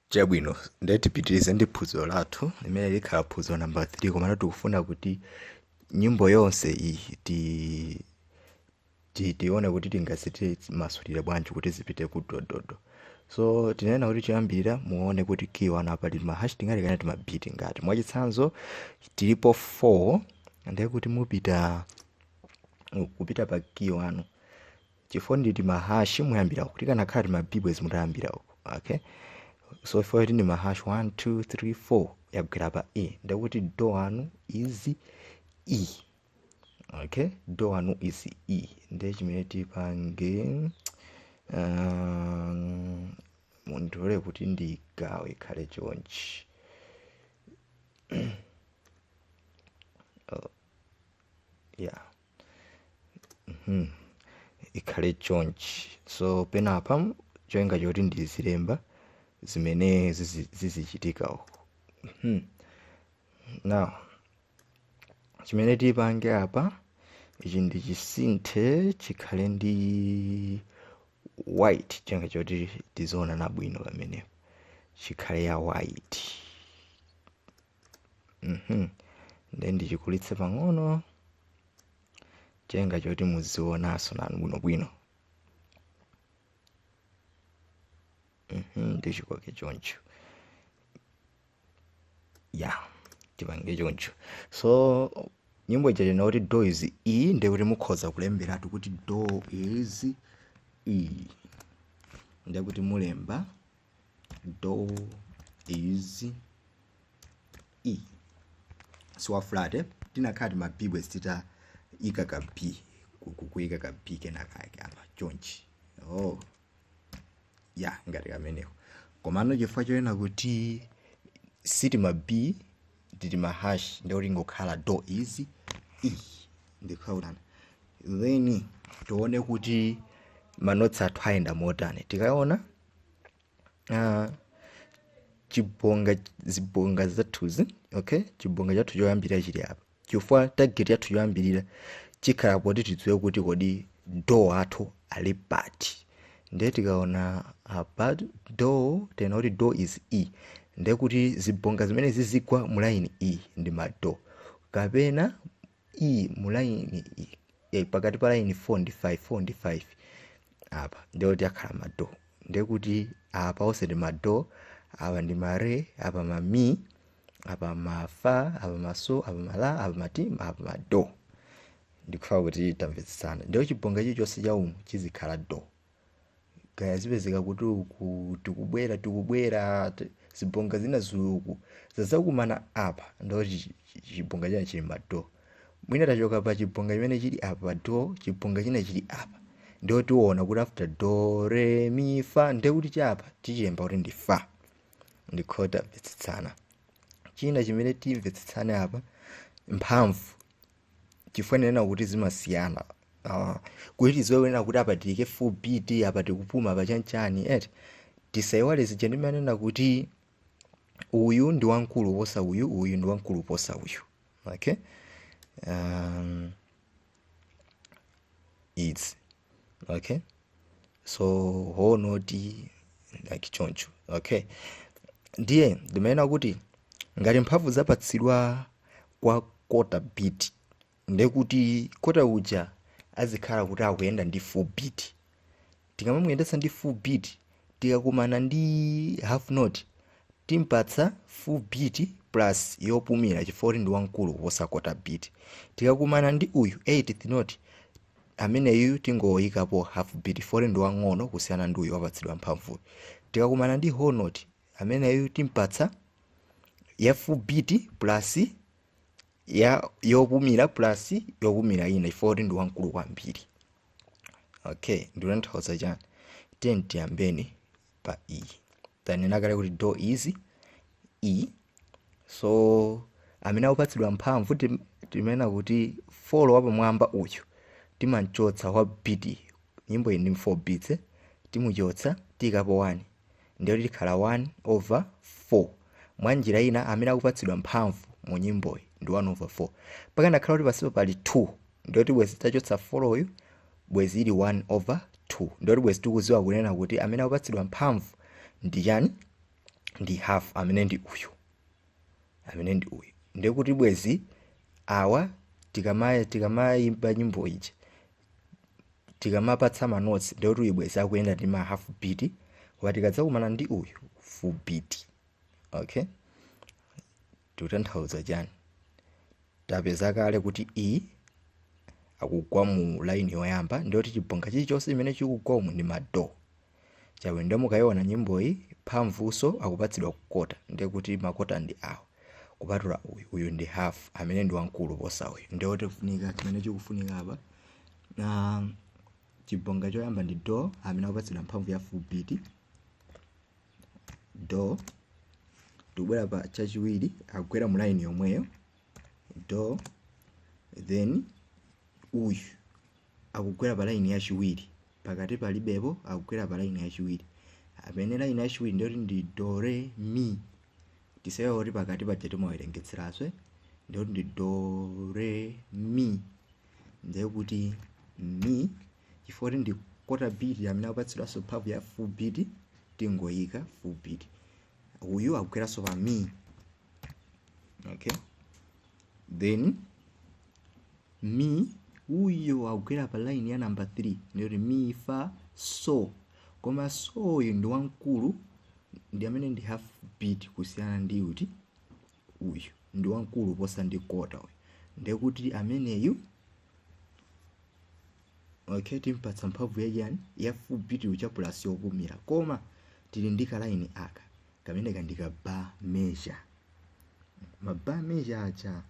chabwino ndiye tipitirize ndi phunziro lathu limene likhala phunziro namba 3 komano tikufuna kuti nyimbo yonse iyi ti ti- tione kuti tingaziti masulire bwanji kuti zipite ku dododo so tinena kuti choyambirira muone kuti key wanu pali mahash tingati kapena tima b tingati mwachitsanzo tilipo 4 ndiye kuti mupita kupita pa key wanu chifukwa ndi timahashi muyambira uku tikanakhala tima b bwezi mutayambira uku okay so chifukwa kuti ndi mahashi 1 2 3 4 yagwera pa e ndekuti do wanu is e okay do wanu is e ndiye chimene tipange um, mundilole kuti ndigawe ikhale chonchi oh, yeah Mhm. ikhale chonchi so penapa cholinga choti ndizilemba zimene zizi- zizichitika uku Mhm. now chimene tipange apa ichi ndichisinthe chikhale ndi white cholinga choti tizionana bwino pamenepo chikhale ya white Mhm. nde ndichikulitse pang'ono cholinga choti muzionaso nanu bwinobwino Mhm, ndichikoke choncho ya tipange choncho so nyimbo ija tanena kuti do is e nde kuti mukhoza kulemberatu kuti do is e nde kuti mulemba do is e si wa flat eh? tikanakhala tima b bwezi titaika ka b ku- ku- kuika ka b kenakake apa chonchi oh ya ngati kameneko komano chifukwa chonena kuti si tima b ndi tima hash nde kuti ingokhala do is e ndikhaulana then tione kuti manotsi athu ayenda motani tikaona uh, chibonga zibonga zathuzi okay chibonga chathu choyambirira chili apa chifukwa target yathu yoyambirira ikhala poti tidziwe kuti kodi do athu ali pati ndiye tikaona apa do tanena kuti do is e ndiye kuti zibonga zimene zizigwa mu line e ndi ma do kapena iyi mu line iyi eh, pakati pa line 4 ndi 5 4 ndi 5 apa ndiye kuti akhala ma do ndiye kuti apa onse ndi ma do apa ndi ma re apa ma mi apa ma fa apa ma so apa ma la apa ma ti apa ma do ndikufuna kuti tamvetsetsana ndiye chibonga chilichonse cha umu chizikhala do kaya zipezeka kuti uku tikubwera tikubwera ti- zibonga zina za uku zadzakumana apa ndo chi- chi- chi- chibonga china chili ma do mwina tachoka pa chibonga chimene chili apa do chibonga china chili apa ndio tiona kuti after do re mi fa nde kuti chapa tichiyimba kuti ndi fa ndikhulupirira tamvetsetsana china chimene timvetsetsane apa mphamvu chifukwa ndimanena kuti zimasiyana uh, kuti tidziwe kunena kuti apa tiike full beat apa tikupuma apa chanchani eti tisayiwale zija ndimanena kuti uyu ndi wamkulu posa uyu uyu ndi wamkulu posa uyu okay um, izi okay so whole note like choncho okay ndiye ndimanena kuti ngati mphamvu zapatsidwa kwa kota beat ndekuti kota uja azikhala kuti akuyenda ndi full beat tikamamuyendetsa ndi full beat tikakumana ndi half note timpatsa full beat plus yopumira chifukwa kuti ndi wamkulu kuposa kota beat tikakumana ndi uyu 8th note Ameneyuyu tingoikapo half beat chifukwa choti ndi wang'ono kusiyana ndi uyu wapatsidwa mphamvuyu. Tikakumana ndi whole note ameneyu timpatsa ya full beat plus ya yopumira plus yopumira ina chifukwa kuti ndi wamkulu kwambiri. Okay, ndikutanthauza chani? Tiyeni tiyambeni pa E tanena kale kuti do is E so amene akupatsidwa mphamvu tim- timanena kuti folo wapamwamba uyu timamchotsa wa beat nyimbo iyi ndi 4 beats eh, timuchotsa tiyikapo 1 ndiye kuti tikhala 1 over 4 mwa njira ina amene akupatsidwa mphamvu mu nyimboyi ndi 1 over 4 pakanakhala kuti pansipo pali 2 ndoti bwezi tachotsa foloyu bwezi ili 1 over 2 ndoti bwezi tikuziwa kunena kuti amene akupatsidwa mphamvu ndi chani ndi half amene ndi uyu amene ndi uyu ndiye kuti bwezi awa tikama tikamayimba nyimbo iyi tikamapatsa manotsi ndiye kuti uyu bwezi akuyenda ndi ma half beat koma tikadzakumana ndi uyu full beat okay tikutanthauza chani tapeza kale kuti E akugwa mu line yoyamba ndiyoti chibonga chilichonse chimene chikugwa umu ndi ma do chabe nde mukayiona nyimboyi mphamvuzo zikupatsidwa kwa kota ndiye kuti makota ndi awo kupatula uyu uyu ndi half amene ndi wamkulu posa uyu ndiye kuti kufunika chimene chikufunika apa nde chibonga choyamba ndi do amene akupatsidwa mphamvu ya full beat do tikubwera pa chachiwiri akugwera mu line yomweyo do then uyu akugwera pa line yachiwiri pakati palibepo akugwera pa line yachiwiri amene line yachiwiri ndiye kuti ndi do re mi tisaiwale kuti pakati paja timawerengetseranso ndiye kuti ndi do re mi ndiye kuti mi chifukwa kuti ndi quarter beat amene akupatsidwanso mphamvu ya full beat tingoyika full beat uyu akugweranso pa mi okay then mi uyo akugwera pa line ya number 3 ndiye kuti mi fa so koma so uyu ndi wamkulu ndi amene ndi half beat kusiyana ndi uti uyu ndi wamkulu kuposa ndi quarter uyu ndiye kuti ameneyu okay timpatsa mphamvu yachiyani ya full beat uja plus yopumira koma tili ndi ka line aka kameneka ndi ka bar measure ma bar measure aja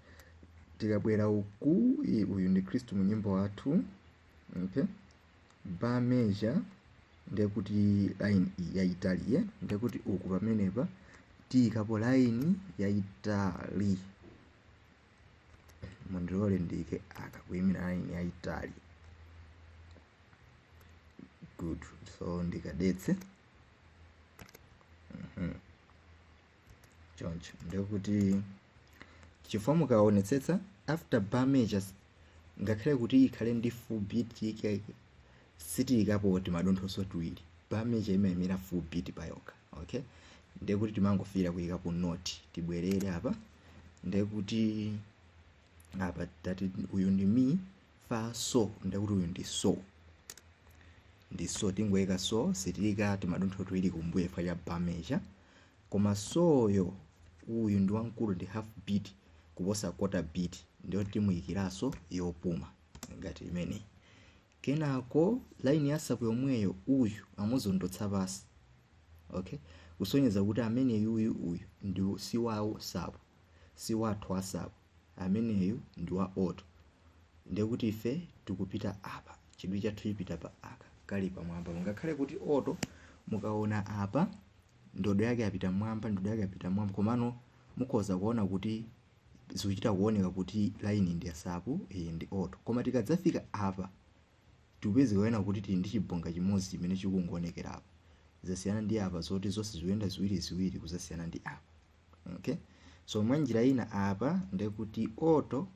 tikabwera uku i- uyu ndi khristu mu nyimbo wathu okay bar measure ndiye kuti line yayitali ye ndiye kuti uku pamenepa tiyikapo line yayitali mundilole ndiyike aka kuyimira line yayitali good so ndikadetse mm -hmm. choncho ndiye kuti chifukwa mukaonetsetsa after bar measures ngakhale kuti ikhale ndi full beat yake sitiyikapo timadonthonso tiwiri bar measure imayimira full beat payokha okay ndiye kuti timangofikira kuyikapo note tibwerere apa ndiye kuti apa tati uyu ndi mi fa so ndiye kuti uyu ndi so ndi so tingoyika so sitiyika timadontho tiwiri kumbuyo chifukwa cha bar measure koma soyo uyu ndi wamkulu ndi half beat kuposa quarter beat ndiye timuyikiranso yopuma ngati imeneyi kenako line ya sapu yomweyo uyu amuzondotsa pansi okay kusonyeza kuti ameneyu uyu uyu ndi si wawo sapu si wathu asapu ameneyu ndi wa alto ndiye kuti ife tikupita apa chidwi chathu chipita pa aka kali pamwamba ngakhale kuti alto mukaona apa ndodo yake yapita mwamba ndodo yake yapita mwamba komano mukhoza kuona kuti zikuchita kuoneka kuti line ndi yasapu iyi ndi alto koma tikadzafika apa tikupeza kuona kuti tili ndi chibonga chimodzi chimene chikungoonekera apa zasiyana ndi apa zoti zonse zikuyenda ziwiri ziwiri kuzasiyana ndi apa okay so mwanjira ina apa ndekuti alto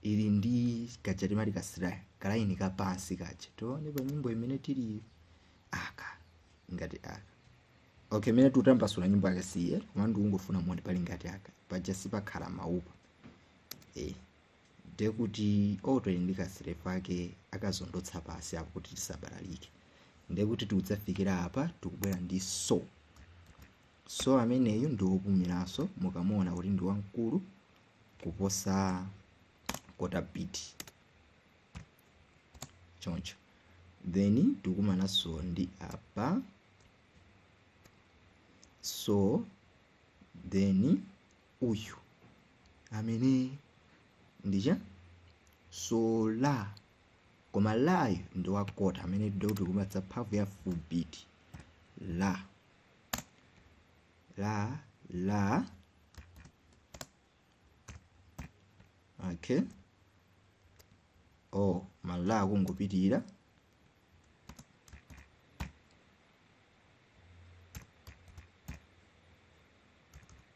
ili ndi kaja timati kamchira kalaini kapansi kaja tione pa nyimbo imene tili aka ngati aka okay imene tutambasula nyimbo yake siye koma ndikungofuna muone pali ngati aka paja sipakhala maupa eh ndekuti alto ili ndi kamchira pake akazondotsa pasi apo kuti tisabalalike ndekuti tikudzafikira apa tikubwera ndi so So ameneyu ndi wopumiranso mukamuona kuti ndi wamkulu kuposa quarter beat choncho then tikumananso ndi apa so then uyu amene ndija so la koma layu ndi wa quarter amene tikuti tikumpatsa mphamvu ya full beat la la la okay oh mala akungopitirira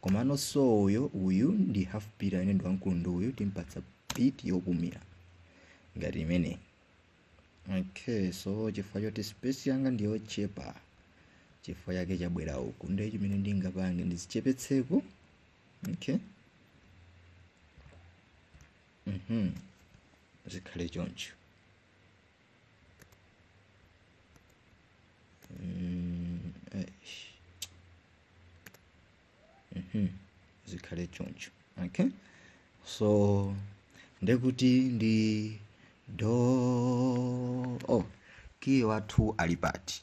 Komano so uyo uyu ndi half beat amene ndi wamkulu ndi uyu timpatsa beat yopumira ngati imeneyi. Okay, so chifukwa choti space yanga ndi yochepa chifukwa chake chabwera uku ndiye chimene ndingapange ndizichepetseko. Okay. Mhm. Zikhale choncho. Mm, eish. Mhm. zikhale choncho okay so ndekuti ndi do oh kiyi wathu ali pati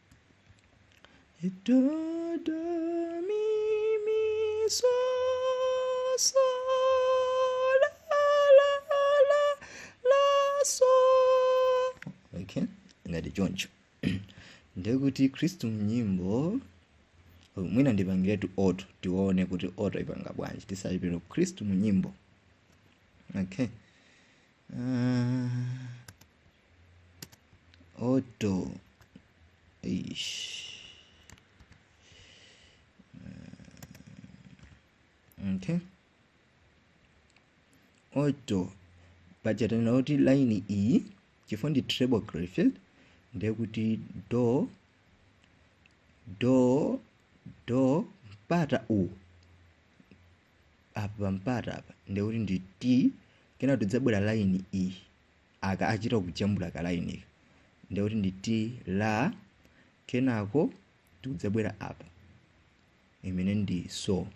Do do mi mi so so la la la la so okay ngati choncho ndekuti khristu mnyimbo mwina ndipangiretu alto tione kuti alto ipanga bwanji tisanapite khristu mnyimbo okay uh, Alto. Eish. Okay. Alto. Paja tanena kuti line iyi chifukwa ndi treble clef ndiye kuti do do do mpata u apa pampata apa ndiye kuti ndi ti kenako tidzabwera line iyi aka achita kujambula ka line ika ndiye kuti ndi ti la kenako tikudzabwera apa imene ndi so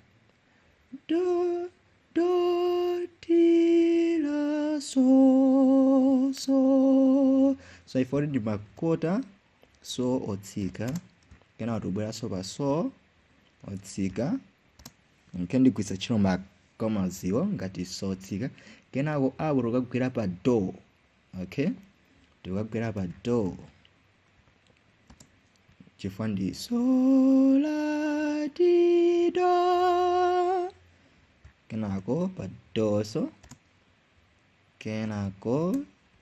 do ti la so so so ife kuti ndi makota so otsika kenako tikubweranso pa so otsika Okay, ndigwiritsa ntchito ma commas iwo ngati so otsika kenako apo tikugwera pa do okay tikugwera pa do chifukwa ndi so la ti do kenako pa do so kenako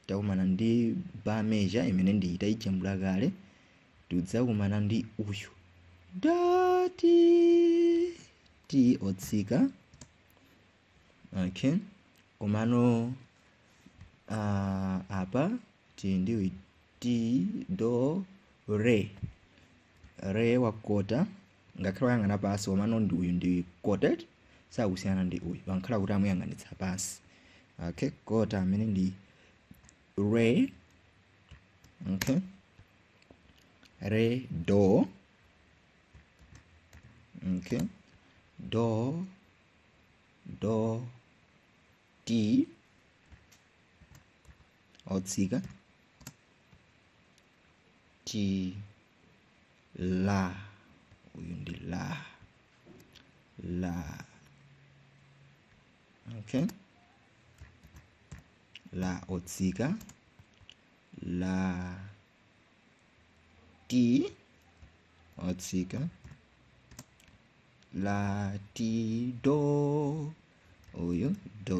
takumana ndi bar measure imene ndi itayijambula kale tidzakumana ndi uyu do ti otsika okay komano uh, apa tili ndi uyu ti do re re wakota Ngakhale wayang'ana pansi komano ndi uyu ndi quarter sakusiyana ndi uyu ngakhale kuti amuyang'anitsa pansi. Okay, kota amene ndi re okay re do okay do do ti otsika ti la uyu ndi la la okay la otsika la ti otsika la ti do uyu do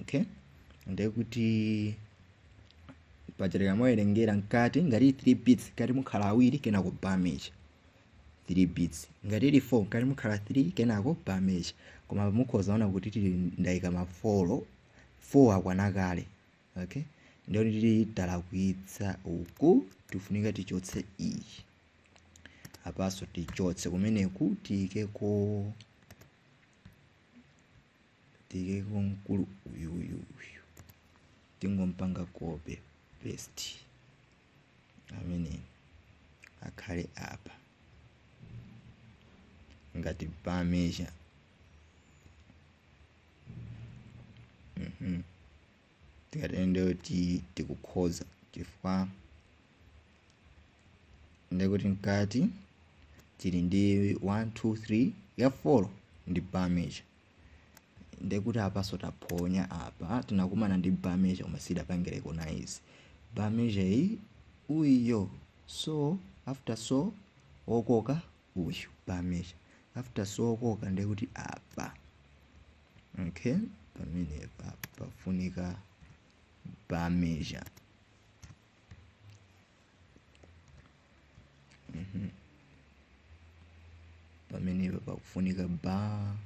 okay ndiye kuti pachitira mwawerengera mkati ngati ili 3 beats mkati mukhala awiri kenako bar measure 3 beats ngati ili 4 mkati mukhala 3 kenako bar measure koma mukhoza kuona kuti tili ndayika ma 4 4 akwana kale okay ndiye kuti tili talakwitsa uku tifunika tichotse iyi apanso tichotse kumeneku tiyikeko Tiyikeko mkulu uyuyu uyu tingompanga copy paste amene akhale apa ngati bar measure mhm tikatero ndiye kuti tikukhoza chifukwa ndiye kuti mkati tili ndi 1 2 3 ya 4 ndi bar measure ndekuti apaso taphonya apa tinakumana ndi bar measure koma sidapange recognize bar measure iyi uyo so after so okoka uyu bar measure after so okoka ndekuti apa okay pamenepa pafunika bar measure Mhm. pamenepa pakufunika bar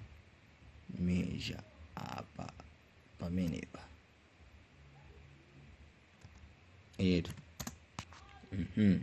measure apa pamenepa etu Mhm.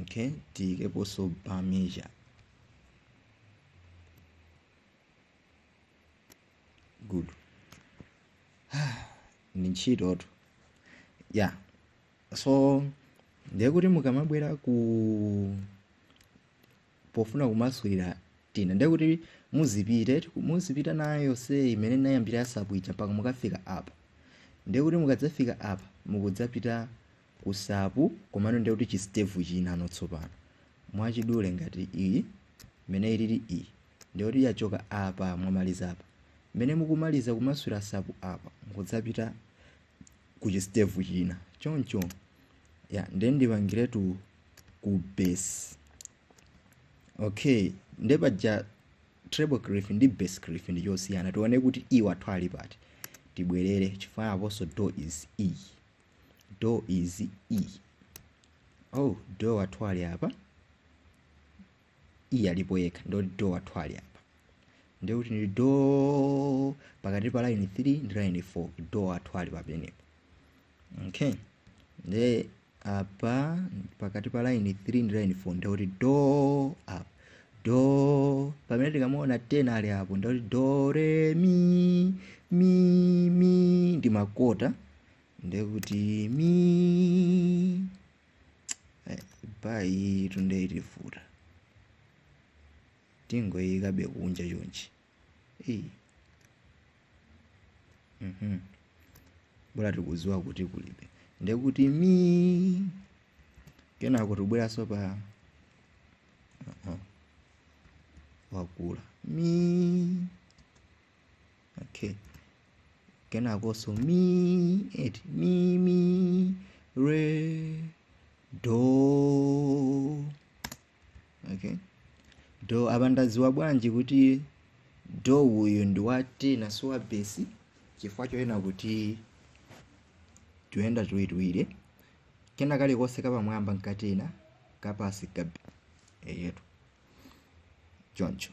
okay tiyikeponso bar measure good ndi ntchitotu yeah so ndiye kuti mukamabwera ku pofuna kumasulira tina ndiye kuti muzipite muzipita nayo yonse imene inayambira ya sopu ija mpaka mukafika apa ndiye kuti mukadzafika apa mukudzapita ku sopu komano ndiye kuti chi step chinano tsopano mwachidule ngati iyi imene ilili iyi ndiye kuti yachoka apa mwamaliza apa mmene mukumaliza kumasulira sopu apa mukudzapita ku chi step china choncho ya nde ndipangiretu ku bass okay nde paja treble clef ndi bass clef ndi chosiyana tione kuti e wathu ali pati tibwerere chifukwa aponso do is e do is e oh do wathu ali apa iye alipo yekha nde kuti do wathu ali apa ndiye kuti ndi do pakati pa line 3 ndi line 4 do wathu ali pamenepo okay nde apa pakati pa line 3 ndi line 4 ndikuti do apa do pamene tikamaona tena ali apo ndikuti do re mi mi mi ndi makota ndikuti mi by two nde itivuta tingoyikabe kunja chonchi eyi mhm bola tikudziwa kuti kulibe ndekuti mi kenako tibweranso pa uh -uh. wakula mi okay kenakonso mi eti mi mi re do okay do apa ndadziwa bwanji kuti do uyu ndi wa tena si wa besi chifukwa choona kuti tuyenda tuwirituwiri kena kalikonse kapamwamba n'ka tena kapasi ka besi eyetu choncho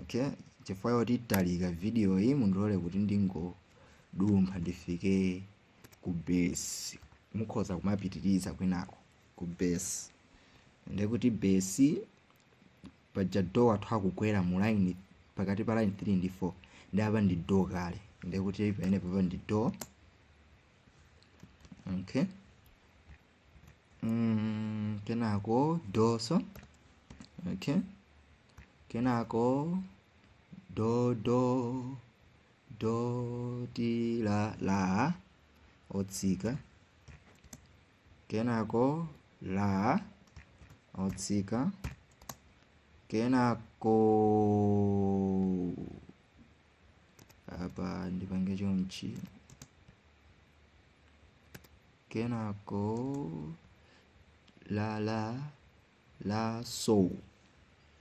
okay chifukwa choti italika video iyi mundilole kuti ndingodumpha ndifike ku bass mukhoza kumapitiriza kwinako ku bass ndekuti bass paja do wathu akugwera mu line pakati pa line 3 ndi 4 ndi apa ndi do kale ndekuti pamene papa ndi do okay mm, kenako do so okay kenako do do do ti la la otsika kenako la otsika kenako apa ndipange chonchi kenako la la la so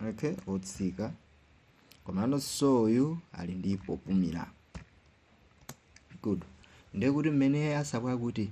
okay otsika komano so uyu ali ndi popumira good ndekuti mmene asabwa kuti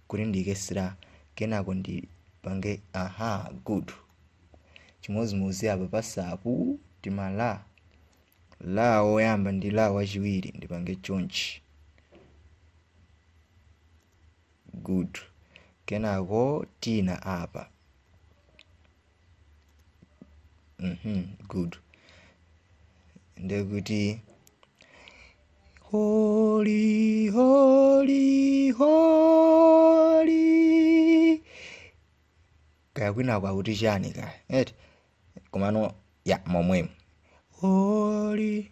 kuti ndiike slur kenako ndipange ahaa good chimozimozi apa pasa pakati pa la woyamba ndi la wachiwiri ndipange chonchi good kenako tina apa Mhm, good. Ndekuti Holy, holy, holy. Kaya kwina kwakuti chani kaya. Eti. Komano ya momwemo. Holy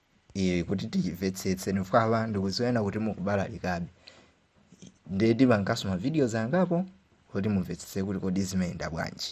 iyoyi kuti timvetsetse chifukwa ndikuziona kuti mukubalalikabe ndiye tipanganso ma videos angapo kuti mumvetsetse kuti kodi zimayenda bwanji